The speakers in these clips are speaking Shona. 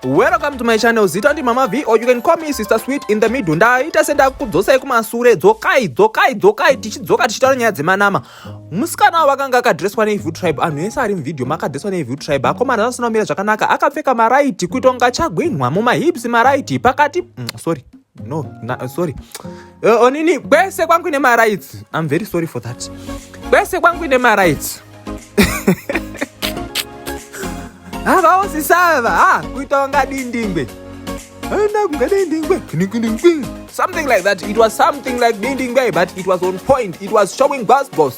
welcome to my channel zita ndi mama v or you can call me sister sweet in the middle ndaita sendakukudzosai kumasure dzokai dzokai dzokai tichidzoka tichitaura nyaya dzemanama musikana wavo akanga akadreswa neevil tribe anhu ese ari muvideo maakadreswa neevil tribe akomana asina kumira zvakanaka akapfeka maraiti kuita kunga chagwinhwa mumahips maraiti pakati mm, sorry no na, uh, sorry uh, onini kwese kwangu ine marights i'm very sorry for that kwese kwangu ine marights havaosisava ha ah, kuita wanga dindingwe aina kunga dindingwe something like that it was something like dindingwe but it was on point it was showing bus boss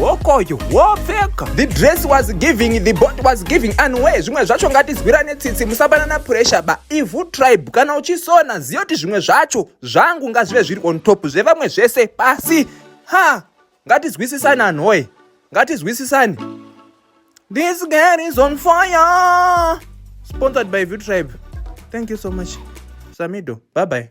hokoyo wopfeka the dress was giving the bot was giving anway zvimwe zvacho ngatizwirane tsitsi musapanana pressure ba ivhu tribe kana uchisona ziyo kuti zvimwe zvacho zvangu ngazvive zviri on top zvevamwe zvese pasi ha ngatizwisisane anhoye ngatizwisisane this girl is on fire sponsored by view tribe thank you so much samido bye bye